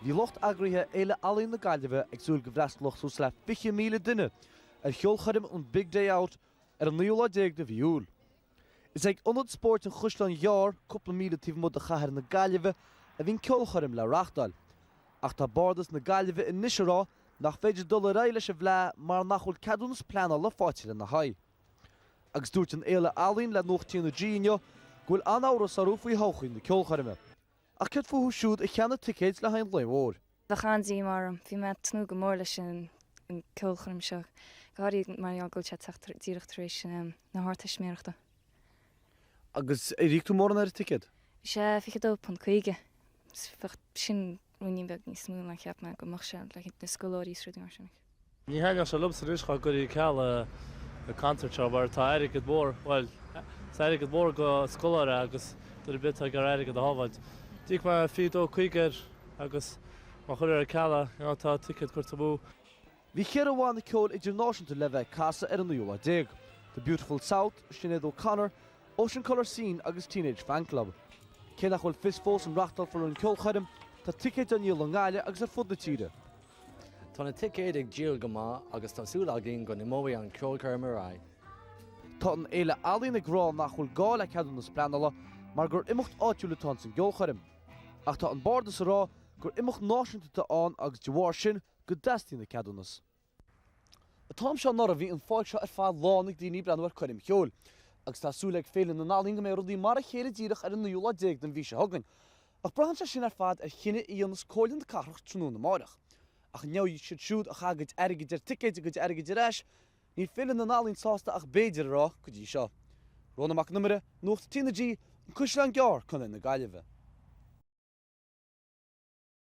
Bhí lucht eagraithe Fhéile Ealaíon na Gaillimhe ag súil go bhfreastalódh suas le 20,000 duine ar cheolchoirm an Big Day Out ar an naoú lá déag de mhí Iúil. Is ag Ionad Spóirt an Chaisleáin Ghearr, cúpla míle taobh amuigh de chathair na Gaillimhe, a bhí an ceolchoirm le reáchtáil, ach tá Bardas na Gaillimhe anois ag rá nach féidir dul ar aghaidh leis an bhfleadh mar nach bhfuil ceadúnas pleanála faighte lena haghaidh. Agus dúirt an Fhéile Ealaíon le Nuacht TnaG inniu go bhfuil an-amhras orthu faoi thodhchaí na ceolchoirme. Ach céard fúthu siúd a cheannaigh ticéid le haghaidh an lae mhóir? Bheadh an-díomá orm. Bhí mé ag tnúth go mór leis an ceolchoirm seo, go háirithe mar gheall go bhfuil sé ag teacht díreach tar éis na hArdteistiméireachta. Agus ar íoc tú mórán ar an ticéad? Bhí sé £22.50. Sin ruainnín beag níos mó ná a cheap mé go mbeadh sé, le haghaidh na scoláirí is rudaí mar sin. Ní thaitneodh sé liomsa anois dhá gcuirfí ceal ar an gconcert seo mar tá airgead mór, bhuel, tá airgead mór do scoláire agus duine ar bith atá ag iarraidh airgead a shábháilt. D'íoc mé fiche dó caoga air agus má chuirtear ar ceal é, you know, tá ticéad curtha amú. Bhí cheithre bhanna ceoil idirnáisiúnta le bheith ag casadh ar an naoú lá déag, The Beautiful South, Sinéad O'Connor, Ocean Colour Scene agus Teenage Fanclub. Cé nach bhfuil fios fós an reáchtálfar an ceolchoirm, tá ticéid á ndíol i nGaillimh agus ar fud na tíre. Tá na ticéid ag díol go maith agus tá súil againn go n-imeoidh an cheolchoirm ar aghaidh. Tá an Fhéile Ealaíon ag rá nach bhfuil gá le ceadúnas pleanála mar gur imeacht áitiúil atá ins an gceolchoirm. Ach tá an Bardas ag rá gur imeacht náisiúnta atá ann agus de bharr sin go dteastaíonn an ceadúnas. An t-am seo anuraidh bhí an pháirc seo ar fad lán ag daoine ag breathnú ar coirm cheoil. Agus tá súil ag Féile na nEalaíon go mbeidh rudaí mar a chéile díreach ar an naoú lá déag den mhí seo chugainn. Ach braitheann sé sin ar fad ar chinneadh a dhéanfas Comhairle na Cathrach tráthnóna amárach. Ach an ngeobhaidh siad siúd a chaith a gcuid airgid ar ticéid a gcuid airgid ar ais? Níl Féile na nEalaíon sásta ach 'b'fhéidir' a rá go dtí seo. Rónán Mac an Iomaire, Nuacht TnaG, An Caisleán Gearr, Contae na Gaillimhe.